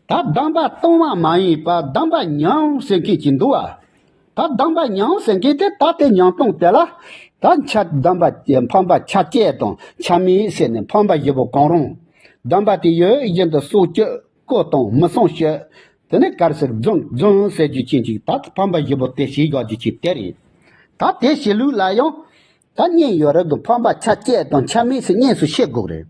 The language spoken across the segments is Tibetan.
ད་གདམས་པ་སྟོང་བ་མ་ཡིན་པར་གདམས་པ་མྱང་ཟེར་མཁན་གྱི་འདུག་བ། ད་གདམས་པ་མྱང་ཟེར་མཁན་དེ་ད་ལྟའི་མྱང་སྟོང་དེ་ལ། ད་ཆ་གདམས་པ་དེ་ཕམ་པ་ཆ་བཅད་དང་ཆ་མིན་ཟེར་ནས་ཕམ་པ་བཞི་པོ་གང་རུང། གདམས་པ་དེ་ཡོད་བཞིན་དུ་སྲོག་གཅོད་བརྐོ་དང་མི་གསང་བཤོད། དེ་ནས་གར་ཟེར་རྫུན་རྫུན་ཟེར་རྒྱུ་བྱེད་ཅིག་ད་ཕམ་པ་བཞི་པོ་དེ་ཞི་བཞག་རྒྱུ་བྱེད་དེ་རེད། ད་དེ་བྱེད་ལུགས་ལ་ཡང། ད་བསྙད་ཡོད་རབས་ཀྱི་ཕམ་པ་ཆ་བཅད་དང་ཆ་མེད་ཟེར་བསྙད་སུ་བཤད་དགོས་རེད།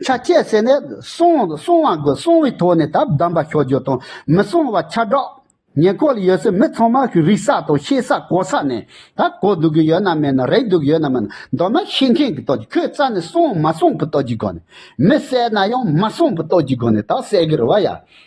ཆ་བཅད་ཟེར་ནས་གསང་བ་དགོས་གསང་བའི་ཐོག་ནས་ད་བདམས་པ་ཞོག་རྒྱུ་དང་མི་གསང་བ་ཆ་བསྒྲགས། ཉེ་ཁོག་ལ་ཡོད་སའི་མི་ཚང་མ་རིག་ས་དང་ཤེས་ས་གོ་ས་ནས་ད་གོ་སྡུག་གི་ཡོད་ན་མེད་ན་རེག་སྡུག་ཡོད་ན་མེད་ན་མདོར་ན་ཤེས་མཁན་གྱི་ཐོག་ཁྱོད་རྩ་ནས་གསང་མ་གསང་གི་ཐོག་གི་སྒོ་ནས་མི་གསལ་ན་ཡང་མ་གསང་གི་ཐོག་གི་སྒོ་ནས་ད་གསལ་གི་རེད་བ་ཡ།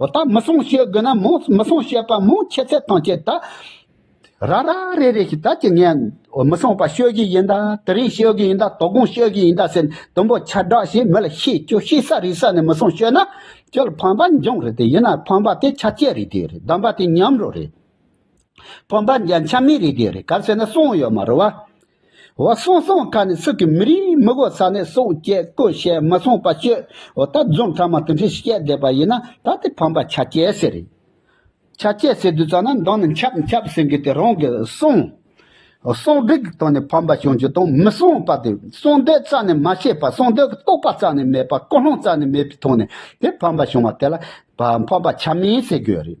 འོ་ད་མི་སྲུང་བྱེད་དགོས་ན་མོ་མི་སྲུང་བྱེད་པ་མོ་ཁྱེད་ཚེ་ཐང་ཁྱེད་ད་ར་ར་རེ་རེ་ཞིག་ད་ཀྱི་ངས་མི་སྲུང་པ་ཤོད་ཀྱི་ཡིན་ད་དེ་རིང་ཤོད་ཀྱི་ཡིན་ད་དོ་དགོང་ཤོད་ཀྱི་ཡིན་ད་ཟེར་ནས་དུམ་བུ་ཆ་བསྒྲགས་ཤིང་མི་ལ་ཤེས་ཁྱོད་ཤེས་ས་རིག་ས་ནས་མི་སྲུང་ཤོད་ན་ཁྱོད་ལ་ཕམ་པ་འབྱུང་རེད་དེ་ཡིན་ན་ཕམ་པ་དེ་ཆ་བཅད་རེད་དེ་རེད་བདམས་པ་དེ་ཉམས་རོ་རེད། ཕོ་འབར་འཇའ་འཆམ་མའི་རིགས་ཀྱི་རེ་ཁཱ་ཟེར་ན་སོང་ཡོད་མ་རུ་བ། འོ་སོང་སོང་ཁ་ནས་སུ་གི་མི་རིགས་མི་དགོ་ས་ནས་སོང་སྐྱེ་དགོས་བཤད་མི་སོང་པ་སྤྱོད་འོ་ད་རྫོང་ཕྲ་མ་དེ་འདྲས་ཤིག་སྐྱེ་བསྡད་པ་ཡིན་ན་ད་དེ་ཕམ་པ་ཆ་སྐྱེ་ཟེར་རེད། ཆ་སྐྱེ་ཟེར་དུས་ཙང་ན་མདང་ནི་འཁྱབ་འཁྱབ་ཟེར་གི་དེ་རང་གི་སོང་འོ་སོང་སྡོད་ཀྱི་སྟངས་ནས་ཕམ་པ་བྱུང་རྒྱུ་དང་མི་སོང་པ་དེ་སོང་སྡོད་རྩ་ནས་མ་ཤེས་པ་སོང་སྡོད་ཀྱི་རྟོག་པ་རྩ་ནས་མེད་པ་ཀུན་སློང་རྩ་ནས་མེད་པའི་ཐོག་ནས་དེ་ཕམ་པ་བྱུང་བ་དེ་ལ་ཕམ་པ་ཆ་མིན་ཟེར་དགོས་རེད།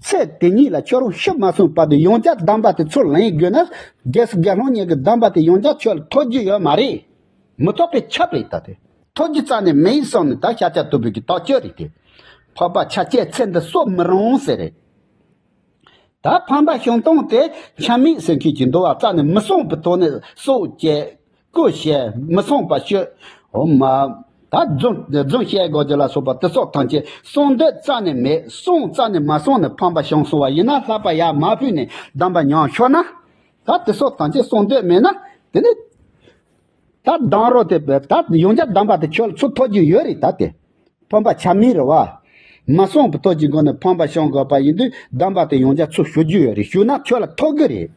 ཚེ་དེ་ཉིད་ལ་ཁྱོད་རང་ཤི་མ་གསོན་བར་དུ་ཡང་བསྐྱར་གདམས་པ་དེ་ཚུར་ལེན་དགོས་ན། རྒྱལ་སྲིད་རྒྱལ་སློང་གཉིས་ཀྱི་གདམས་པ་དེ་ཡང་བསྐྱར་ཁྱོད་ལ་ཐོས་རྒྱུ་ཡོད་མ་རེད། མི་ཐོག་པའི་ཁྱབ་རེད་ད་དེ། ཐོས་རྒྱུ་རྩ་ནས་མེད་ཡིན་སོང་ནས་ད་ཤ་ཆ་དུ་བུད་ཀྱི་དོགས་གཅོད་རེད་དེ། ཕོར་པ་ཆ་བྱད་ཚེ་འདི་གསོ་མི་རུང་ཟེར་རེད། ད་ཕམ་པ་བྱུང་སྟངས་དེ་འཆམ་མེད་ཟེར་མཁན་གྱི་འདུ་བ་རྩ་ནས་མི་སོང་པའི་ཐོག་ནས་གསོ་བྱེད་ཀུ་ཤས་མི་གསུངས་པར་ཤོད། འོ་མ། ད་རྫུན་བཤད་དགོས་དོན་ལ་སོགས་པ་དེ་སོགས་ཐམས་ཅད་གསུངས་འདོད་རྩ་ནས་མེད་གསུངས་རྩ་ནས་མ་གསུངས་ནས་ཕམ་པ་བྱུང་སོང་བ་ཡིན་ན་ལྷག་པ་ཡར་མར་ཕུད་ནས་གདམས་པ་མྱོང་ཆོག་ན། ད་དེ་སོགས་ཐམས་ཅད་གསུངས་འདོད་མེད་ན་དེ་ནས། ད་གདམས་རོགས་དེ་ད་ཡོང་རྒྱ་གདམས་པ་དེ་ཁྱོད་ཚོ་ཐོག་རྒྱུ་ཡོད་རེད་ད་དེ། ཕམ་པ་ཆ་མེད་རེད་བ། མ་གསུངས་པའི་ཐོག་ཅིག་དགོངས་ནས་ཕམ་པ་བཤང་དགོས་པ་ཡིན་དུས་གདམས་པ་དེ་ཡོངས་རྒྱ་མཚོས་ཞུ་རྒྱུ་ཡོད་རེད་ཞུས་ན་ཁྱོད་ལ་ཐོག་གི་རེད།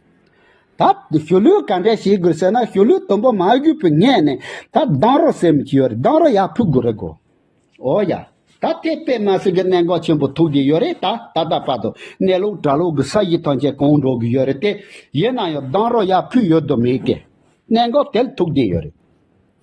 ད་ཞུ་ལུས་ག་འདྲས་བྱེད་དགོས་ཟེར་ན་ཞུ་ལུས་དུམ་བུ་མ་བརྒྱུས་པའི་སྔས་ནས་ད་གདང་རོགས་ཟེར་མི་ཁྱི་ཡོད་རེད་གདང་རོགས་ཡག་ཕུད་དགོས་རེད་གོ། འོ་ཡ། ད་དེ་པད་མ་སེང་གེ་གནད་འགག་ཆེན་པོ་ཐུག་གི་ཡོད་རེད་ད་ད་ལྟ་བར་དུ་གནས་ལུགས་གྲྭ་ལུགས་ཀྱི་ས་གཞི་ཐམས་ཅད་གང་འགྲོ་གི་ཡོད་རེད་དེ། ཡིན་ན་ཡང་གདང་རོགས་ཡག་ཕུད་ཡོད་དུ་མེད་ཀི། གནད་འགག་དེ་ལ་ཐུག་བསྡད་ཡོད་རེད།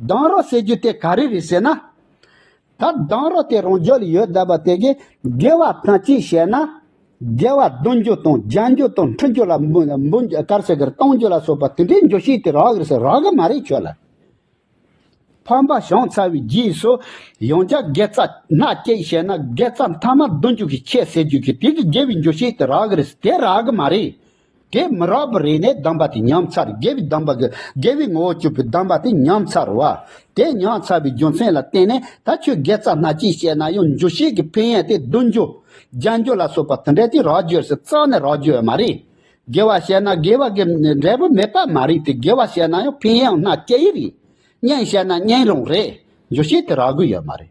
སྡང་རོགས་ཟེར་རྒྱུ་དེ་ག་རེ་རེད་ཟེར་ན། ད་སྡང་རོགས་དེ་རང་རྒྱལ་ལ་ཡོད་བསྡད་པ་དེ་གས་དགེ་བ་དང་ཅིག་བྱས་ན། དགེ་བ་བསྡུ་རྒྱུ་དང་སྦྱང་རྒྱུ་དང་འཁྲུ་རྒྱུ་ལ་འབུ་དཀར་ཟེར་གར་གཏོང་རྒྱུ་ལ་སོགས་པ་དེ་འདྲའི་འགྱོད་བཤིག་དེ་རག་རེད་རག་གི་མ་རེད་ཁྱོད་ལ། ཕམ་པ་བྱུང་ཚར་བའི་རྗེས་སུ་ཡང་བསྐྱར་དགེ་རྩ་སྣ་གཅིག་བྱས་ན་དགེ་རྩ་མཐའ་མ་བསྡུ་འཇུག་གི་ཁྱད་ཟེར་རྒྱུ་གི་དེ་གས་དགེ་བའི་འགྱོད་བཤིག་དེ་རག་གི་རེད་དེ་རག་གི་མ་རེད། དེ་མི་རགས་པར་རེ་ནས་བསྡམས་པ་དེ་ཉམས་ཚར་དགེ་བའི་བསྡམས་པ་གི་དགེ་བའི་ངོ་བོ་བཅུ་པོས་བསྡམས་པ་དེ་ཉམས་ཚར་བ། དེ་ཉམས་ཚར་བའི་རྒྱུ་མཚན་ལ་བརྟེན་ནས་ད་ཁྱོད་དགེ་རྩ་སྣ་གཅིག་བཤད་ན་ཡང་འཇུ་བྱེད་ཀྱི་ཕན་ཡོན་དེ་བདུན་འཇུ། རྒྱན་འཇུ་ལ་སོགས་པ་དེ་འདྲ་དེ་རགས་བརྗོད་སུ་རྩ་ནས་རགས་བརྗོད་མ་རེད། དགེ་བ་བཤད་ན་དགེ་བ་གི་འབྲས་བུ་མེད་པ་མ་རེད་དེ་དགེ་བ་བཤད་ན་ཡང་ཕན་ཡོན་སྣ་གཅིག་རེད། གཉེན་བཤད་ན་གཉེན་རང་རེད། འཇུ་བྱེད་དེ་རགས་དགོས་ཡོད་མ་རེད།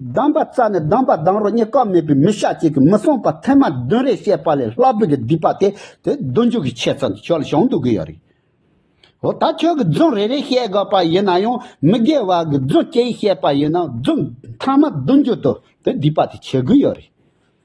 གདམས་པ་རྩ་ནས་གདམས་པ་གདམས་རོགས་གཉིས་ཀ་མེད་པའི་མི་ཤ་གཅིག་གིས་མི་གསུངས་པ་ཚད་མ་བདུན་རེ་བཤད་པ་ལས་ལྷ་བུ་གི་སྡིག་པ་དེ་དེ་བདུན་འཇུག་གི་ཆེད་ཙམ་གྱི་ཆོས་ལ་བྱང་དུ་དགོས་ཡ་རེད། འོ་ད་ཁྱོད་ཀྱི་རྫུན་རེ་རེ་བཤད་དགོས་པ་ཡིན་ན་ཡང་མི་དགེ་བ་གི་རྫུན་སྐྱེ་ཡི་བཤད་པ་ཡིན་ན་རྫུན་ཚང་མ་བདུན་འཇུག་དུ་དེ་སྡིག་པ་དེ་བྱེད་དགོས་ཡ་རེད།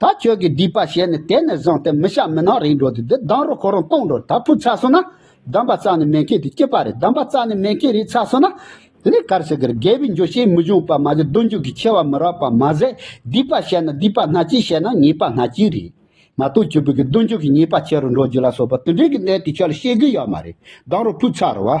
ད་ཁྱོད་ཀྱིས་སྡིག་པ་བྱས་ནས་དེ་ནས་བཟུང་སྟེ་མི་ཤ་མི་ནག་རིག་འགྲོ་དུས་འདི་སྡང་རོ་ཁོ་རང་སྟོང་འགྲོ་ད་ཕུ་ཚ་སོང་ན། སྡམ་པ་རྩ་ནས་མེ་མཁས་དུས་སྐྱིད་པ་རེད་སྡམ་པ་རྩ་ནས་མེ་མཁས་རིག་ཚ་སོང་ན། དེ་ནས་གར་སི་གར་རྒས་པའི་འགྱོད་བཤེས་མི་འབྱུང་པ་མ་ཟད་སྡུག་འགྱོད་ཀྱི་ཆེ་བ་མི་རག་པ་མ་ཟད་སྡིག་པ་བྱས་ན་སྡིག་པ་སྣ་གཅིག་བྱས་ན་ཉེས་པ་སྣ་གཅིག་རེད། མ་གཏོགས་ཁྱོད་བོད་ཀྱི་སྡུག་འགྱོད་ཀྱི་ཉེས་པ་ཆེ་རུ་འགྲོ་རྒྱུ་ལ་སོགས་པ་དེ་འདྲའི་གི་གནད་དེ་ཁྱོད་ལ་ཤེས་གི་ཡོད་མ་རེད་སྡང་རོ་ཕུ་ཚ་རུ་བ།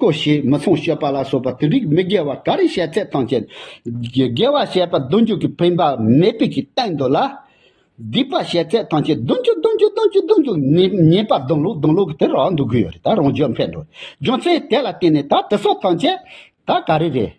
ཀོ་ཞེས་མི་ཚངས་སྤྱོད་པ་ལ་སོགས་པ་དེ་རིགས་མི་དགེ་བ་ག་རེ་བཤད་ཚད་དང་བཅས་དགེ་བ་བཤད་པ་བདུན་ཅུ་གིས་འཕེན་པ་མེད་པའི་ཆེད་བསྟན་འདོད་ལ། སྡིག་པ་བཤད་ཚད་དང་བཅས་བདུན་ཅུ་བདུན་ཅུ་བདུན་ཅུ་བདུན་ཅུ་ཉེས་པ་བདུན་ལུགས་བདུན་ལུགས་དེར་རང་འདུག་གི་ཡོད་རེད་ད་རང་རྒྱུད་འཕེན་འགྲོ་རྒྱུ་མཚན་དེ་ལ་བརྟེན་ནས་ད་དེ་སོགས་དང་བཅས་ད་ག་རེ་རེད།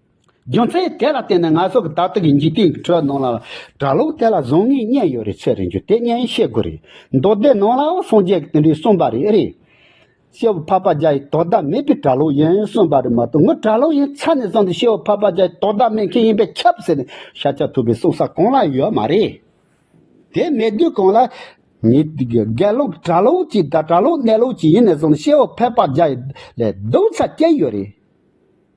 རྒྱུ་མཚན་དེ་ལ་བརྟེན་ནས་ང་ཚོ་གི་ད་ལྟ་གི་འཇིག་རྟེན་གྱི་ཁྲོད་ནང་ལ་གྲྭ་ལོག་དེ་ལ་བཟང་ངན་གཉིས་ཡོད་རེད་ཚོད་རེད་འགྱུར་དེ་གཉིས་ཡིན་ཤེས་དགོས་རེད་མདོ་སྡེ་ནང་ལའོ་སངས་རྒྱས་ཀྱི་དོན་དུ་གསུངས་པ་རེད་རེད། ཤེས་བུ་འཕགས་པ་རྒྱ་ཡིས་དོ་བདག་མེད་པའི་གྲྭ་ལོག་ཡིན་གསུངས་པ་རེད་མ་གཏོགས་ངོས་གྲྭ་ལོག་ཡིན་ཚར་ནས་བཟུང་སྟེ་ཤེས་བུ་འཕགས་པ་རྒྱ་ཡིས་དོ་བདག་མེད་མཁན་ཡིན་པས་ཁྱབ་ཟེར་ནས་ཤ་ཆག་ཐུབ་པའི་གསུང་ས་གང་ལའང་ཡོད་མ་རེད། དེ་མེད་དུས་གང་ལ། ངའི་དགེ་སློབ་གྲྭ་ལོག་ཅིག་དང་གྲྭ་ལོག་གནས་ལོག་ཅིག་ཡིན་ནས་བཟུང་སྟེ་ཤེས་བུ་འཕགས་པ་རྒྱ་ཡི་ལས་སྡུག་ཚ་སྐྱེལ་ཡོད་རེད།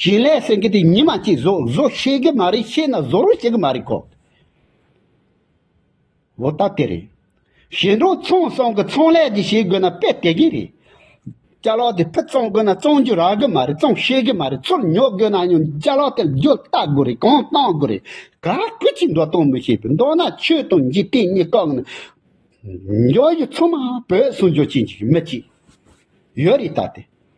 ཞིང་ལས་སེང་གེ་དེ་ཉི་མ་གཅིག་བཟོ་བཟོ་ཤེས་ཀྱི་མ་རེད་ཤེས་ན་བཟོ་རུ་བྱེད་ཀྱི་མ་རེད་ཁོ། འོ་ད་དེ་རེད། ཞིང་འབྲོག་ཚོང་ཟོང་གི་ཚོང་ལས་ཀྱི་བྱེད་དགོས་ན་དཔེ་དེ་གས་རེད། བཅའ་ལག་དེ་ཕུ་བཙོང་དགོས་ན་བཙོང་རྒྱུ་རག་གི་མ་རེད་བཙོང་ཤེས་ཀྱི་མ་རེད་ཚུར་ཉོ་དགོས་ན་ཡང་བཅའ་ལག་དེ་རྒྱུ་ལྟ་དགོས་རེད་གང་བཏང་དགོས་རེད་ག་ཁུ་ཅིག་འགྲོ་གཏོང་མི་ཤེས་པའི་མདོག་ན་ཆོས་དང་འཇིག་རྟེན་གཉིས་བཀག་ན། འབྱོར་ཡུལ་ཚང་མ་བོད་སྲུང་སྐྱོབ་བྱེད་འཇུག་གི་མི་གཅིག་ཡོད་རེད་ད་དེ།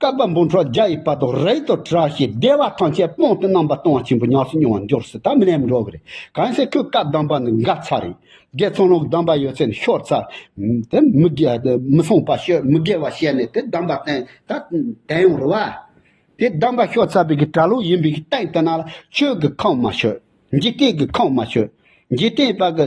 བསྐལ་པ་འབུམ་ཕྲག་བརྒྱ་ཡི་དཔལ་དུ་རེག་ཏུ་གྲགས་ཞེས་བདེ་བ་ཐམས་ཅད་སྤོང་སྟེ་རྣམ་པར་སྤོང་བ་ཆེན་པོ་ཉམས་སུ་མྱོང་བར་འགྱུར་སྲིད་དམ་ལེན་འགྲོ་བ་རེད། གང་ཞིག་ཁྱོད་བཀའ་གདམས་པ་ནི་འགའ་ཚར་རིགས་བརྒྱད་ཚང་ལུགས་གདམས་པ་ཡོད་ཚད་ནི་ཤོར་ཚར། དེ་མི་གསུངས་པ་ཤོད་མི་དགེ་བ་བཤད་ནས་དེ་གདམས་པ་བསྟན་ད་དེ་ཡང་རུ་བ། དེ་གདམས་པ་ཤོར་ཚར་བའི་གི་གྲྭ་ལོག་ཡིན་པའི་གི་སྟེང་དུ་ན་ལ་ཆོས་གི་ཁང་མ་ཤོད། འཇིག་རྟེན་གི་ཁང་མ་ཤོད། འཇིག་རྟེན་པ་གི།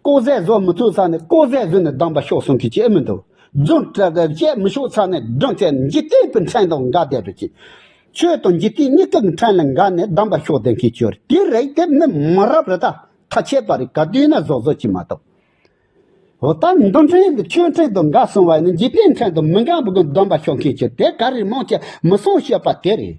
ལྐོག་ཟས་བཟོ་མི་ཐུབ་ས་ནས་ལྐོག་ཟས་བཟོས་ནས་སྡང་པ་ཤོག་གསུང་གིས་བྱེད་མི་འདུག་རྫུན་བཤད་མི་ཤོག་ས་ནས་སྒྲུང་བཤད་འཇིག་རྟེན་པའི་འཕྲེང་དང་འགའ་བསྡད་པའི་ཕྱིར། ཆོས་དང་འཇིག་རྟེན་གཉིས་ཀ་གི་འཕྲེང་ལ་འགའ་ནས་སྡང་པ་ཤོག་ལྡན་གྱིས་བྱོས་དེ་རེད་དེ་མིན་མ་རབས་རི་དྭགས་ཐ་ཆད་པ་རེད་ག་དུས་ན་བཟོ་བཟོ་བྱེད་མ་ཐུབ། འོ་ད་འདུ་འཕྲེང་གི་ཆོས་འཕྲེང་དང་འགའ་གསུང་བ་ནི་འཇིག་རྟེན་འཕྲེང་དང་མི་འགའ་བུ་གི་སྡང་པ་ཤོག་མཁན་གྱི་དེ་ག་རེ་མང་ཆེ་མི་གསུང་ཤེས་པ་དེ་རེད།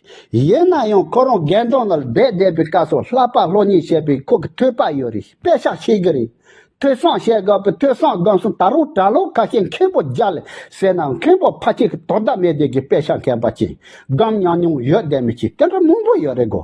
ཡིན་ན་ཡང་ཁོ་རང་རྒན་གྲོང་ནས་སྦས་བསྡད་པའི་སྐབས་སུ་ལྷག་པར་ལྷོད་གཉིས་བྱས་པས་ཁོ་གི་ཐོས་པ་ཡོད་རེད་དཔེ་བཞག་བཤད་གི་རེད། ཐོས་བསམ་བཤད་དགོས་པའི་ཐོས་བསམ་སྒམ་སུ་ད་རུང་གྲྭ་ལོག་ཁ་ཤས་མཁན་པོ་རྒྱ་ལས་ཟེར་ནའང་མཁན་པོ་ཕ་གཅིག་གི་དོ་ཟླ་མེད་བསྡད་ཀྱི་དཔེ་བཞག་མཁན་པ་གཅིག་སྒམ་མྱང་མྱོང་ཡོད་བསྡད་མི་གཅིག་དེ་འདྲ་མང་པོ་ཡོད་རེད་གོ།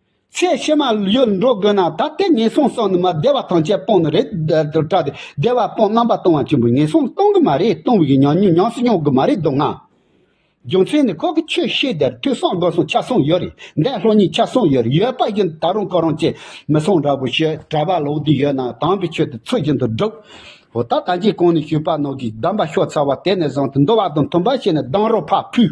ཚེ་ཕྱི་མ་ཡོད་འགྲོ་དགོས་ན་ད་ལྟའི་ངན་སོང་སོགས་ནི་མ་བདེ་བ་ཐམས་ཅད་སྤོང་ནི་རེད་དོ་དྲག་སྟེ་བདེ་བ་སྤོང་རྣམ་པ་སྟོང་བ་ཆེན་པོའི་ངན་སོང་གཏོང་གི་མ་རེད་གཏོང་བའི་མྱོང་སྙིང་ཉམས་སུ་མྱོང་གི་མ་རེད་དོ་ང། རྒྱུ་མཚན་ནི་ཁོ་གི་ཆོས་ཤེས་དེར་ཐོས་བསམ་སྒོམ་སོང་ཆ་སོང་ཡོད་རེད་འདས་ལྷོ་གཉིས་ཆ་སོང་ཡོད་རེད་ཡོད་པ་བཞིན་ད་རུང་གོ་རང་བཅས་མི་སོང་འདྲ་པོ་ཞེས་གྲྭ་པ་ལོག་དུས་ཡོད་ན་དམ་པའི་ཆོས་དེ་ཚུལ་བཞིན་དུ་སྒྲུབ། འོ་ད་ད་ཅིའི་གང་ནས་ཞུས་པ་ནང་གི་གདམས་པ་ཤོག་ཚ་བ་དེ་ནས་བཟུང་སྟེ་འདུལ་བ་དང་མཐུན་པ་བྱས་ནས་སྡང་རོ་ཕ་ཕུད།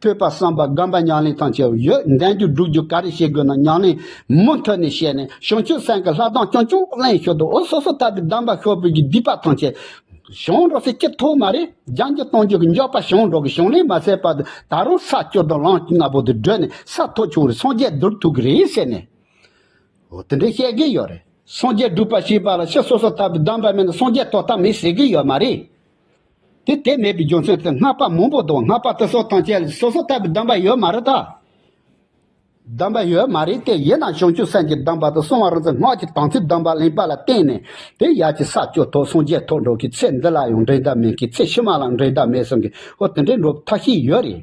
ཐོས་པ་བསམ་པ་སྒོམ་པ་ཉམས་ལེན་དང་བཅས་པ་ཡོད་ལྡན་རྒྱུ་སྒྲུབ་རྒྱུ་ག་རེ་བྱེད་དགོས་ན་ཉམས་ལེན་མུ་མཐུད་ནས་བྱས་ནས་བྱང་ཆུབ་སེམས་ཀྱི་ལྷ་གདངས་ཀྱང་ཅུང་གླེང་ཞོར་དུ་འུ་སོ་སོ་ལྟ་བུའི་གདམས་པ་ཤོག་བུ་གྱི་བསྡུས་པ་དང་བཅས་བྱང་འགྲོ་ཚེ་སྐྱིད་ཐོག་མ་རེ་སྦྱང་རྒྱུ་གཏོང་རྒྱུ་གྱི་མགྱོགས་པ་བྱང་འགྲོ་གི་བྱང་ལེན་མ་ཟད་པར་དུ་ད་རུང་ས་སྐྱོ་དང་ལངས་སྐྱུག་ནག་པོ་དེ་བགྲོད་ནས་ས་མཐོ་ཆུང་རེ་སངས་རྒྱས་བསྡུར་ཐུབ་ཀྱི་རེད་ཟེར་ནས། འོ་དེ་འདྲས་བཤད་གི་ཡོད་རེད། སངས་རྒྱས་སྒྲུབ་པ་བྱེད་པ་ལ་ཕྱི་སོ་སོ་ལྟ་བུའི་གདམས་པ་མེད་ན་སངས་རྒྱས་ཐོབ་ཐབས་མེད་ཟེར་གི་ཡོད་མ་རེད། དེ་དེ་མེད་པའི་རྒྱུ་མཚན་དུ་སྔགས་པ་མང་པོ་དང་སྔགས་པ་དུ་སོགས་དང་བཅས་སོ་སོ་ལྟ་བུའི་གདམས་པ་ཡོད་མ་རེད་དཱ། གདམས་པ་ཡོད་མ་རེད་དེ་ཡིན་ན་བྱང་ཆུབ་སེམས་ཀྱི་གདམས་པ་དང་གསང་བ་རང་བཙན་སྔགས་ཀྱི་དམ་ཚིག་གདམས་པ་གླེང་པ་ལ་བརྟེན་ནས་དེ་ཡར་གྱི་ས་སྐྱོ་ཐོག་སངས་རྒྱས་ཐོག་འགྲོ་གི་ཚེ་འདི་ལ་ཡང་འགྲན་ཟླ་མེད་ཀི་ཚེ་ཕྱི་མ་ལའང་འགྲན་ཟླ་མེད་གསུང་གི་ཧོ་དེ་འདྲའི་འགྲོ་ཐབས་ཤིག་ཡོད་རེད།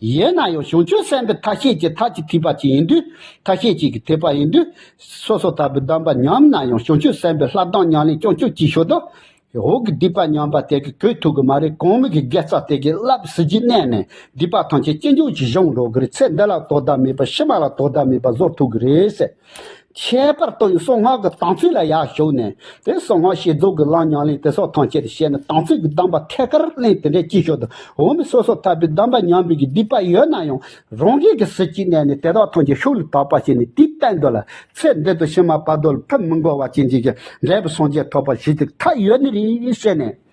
ཡས་ན་ཡང་བྱང་ཆུབ་སེམས་དཔའི་ཐ་ཤལ་གྱི་ཐ་ཅི་ཐིག་པ་གཅིག་ཡིན་དུས་ཐ་ཤལ་གཅིག་གི་ཐེག་པ་ཡིན་དུས། སོ་སོ་ལྟ་བུའི་གདམས་པ་ཉམས་ན་ཡང་བྱང་ཆུབ་སེམས་དཔའི་ལྷ་གདངས་ཉམས་ལེན་ཀྱང་ཆོས་ཅིག་ཤོས་དང། འོག་གི་སྡིག་པ་ཉམས་པ་དེ་གི་གོས་ཐུག་གི་མ་རེད་གོང་མིག་གི་དགེ་རྩ་དེ་གི་བསླབ་གཟི་བརྗིད་གནས་ནས་སྡིག་པ་ཐམས་ཅད་ཅི་འབྱུང་ཅི་བྱུང་འགྲོ་གི་རེད་ཚེ་འདི་ལ་དོ་ཟླ་མེད་པར་ཕྱི་མ་ལ་དོ་ཟླ་མེད་པར་བཟོར་ཐུག་གི་རེད་ཟེར། ཁྱད་པར་དུ་ཡང་གསང་སྔགས་ཀྱི་དམ་ཚིག་ལ་ཡར་ཞུགས་ནས་དེ་གསང་སྔགས་ཤེས་རྫོགས་ཀྱི་བླ་ཉམས་ལེན་དེ་སོགས་ཐམས་ཅད་དུ་བཤད་ནས་དམ་ཚིག་གི་གདམས་པ་ཐད་ཀར་གླེང་དེ་འདྲའི་སྐྱིད་ཤོག་ཏུ་འོང་མི་སོ་སོ་ཐར་པའི་གདམས་པ་ཉམས་འབུལ་གྱི་སྡིག་པ་ཡོད་ན་ཡང་རང་རྒྱལ་གྱི་གཟི་བརྗིད་གནས་ནས་དེ་དག་ཐམས་ཅད་ཤུགས་ལ་དག་པར་བྱས་ནས་དེའི་བསྟན་དོན་ལ་ཚེ་འདི་དང་ཕྱི་མ་བར་དོ་ལ་ཕུབ་མི་འགོར་བ་ཅན་བྱས་ཀྱང་འབྲས་བུ་སངས་རྒྱས་ཐོབ་པར་གཞིགས་ཏེ་མཐའ་ཡས་ནི་རིང་ཞེས་ནས།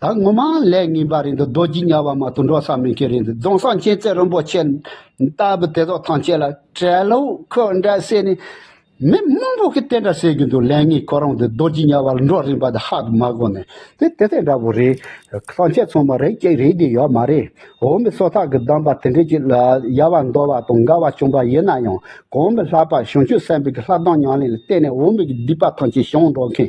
ད་ངོ་མ་ལས་ངན་པ་རེད་འདུག་རྡོ་རྗེ་གཉའ་བ་མ་དུ་འགྲོ་ས་མེད་མཁན་རེད་འདུག་རྫོང་སངས་ཆེན་རྩེ་རིན་པོ་ཆེ་ལྟ་བུ་དེ་ཚོ་ཐང་ཆད་ལ་བྲེལ་ལོ་ཁོ་འདྲ་བསད་ནས་མི་དམངས་པོ་ཁི་དེ་འདྲ་བསད་གི་འདུག་ལས་ངན་ཁོ་རང་དེ་རྡོ་རྗེ་གཉའ་བ་ལ་འགྲོ་རིན་པ་དེ་ཧ་གི་མ་གོ་ནས་དེ་དེ་ཚོ་འདྲ་བོ་རེད་ཐང་ཆད་ཚང་མ་རེད་ཀྱི་རེད་ཀྱི་ཡོད་མ་རེད་འོ་མི་སོ་ཐག་གི་གདམས་པ་དེ་འདྲས་ཀྱི་ལ་ཡ་བ་འདོར་བ་དང་འགལ་བ་བྱུང་པ་ཡིན་ན་ཡང་གང་མི་ལྷག་པ་བྱང་ཆུབ་སེམས་དཔའི་གི་ལྷ་གདངས་ཉང་ལེན་ལ་བརྟེན་ནས་འོ་མི་གི་སྡིག་པ་ཐང་ཆད་བྱང་འགྲོ་མཁན་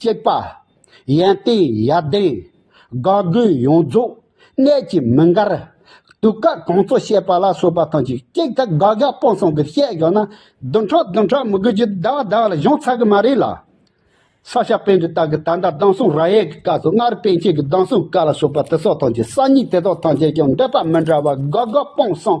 གཅེས་པ། ཡན་ཏན་ཡར་ལྡན། དགའ་མགུའི་ཡོངས་རྫོགས། གནས་ཀྱི་མི་འགར། དུས་སྐབས་གོང་གཙོ་བཤད་པ་ལ་སོགས་པ་ཐམས་ཅད་ཀྱིས་དགའ་དགའ་སྤང་སྤང་གིས་བཤད་བཞག་ན་བདུན་ཕྲག་བདུན་ཕྲག་མི་དགོས་ཀྱི་ཟླ་བ་ཟླ་བ་ལ་གཞུང་ཚར་གི་མ་རེད་ལ། ས་ཞབས་པན་གྱི་རྟགས་ཀྱི་ད་ལྟ་གདངས་སྲུང་ར་ཡས་ཀྱི་སྐབས་སུ་སྔར་པན་ཆེན་གྱི་གདངས་སྲུང་བཀའ་ལ་སོགས་པ་དེ་སོགས་ཐམས་ཅད་གསར་རྙིང་དེ་དག་ཐམས་ཅད་ཀྱང་འདོད་པ་མི་འདྲ་བ་དགའ་དགའ་སྤང་སྤང།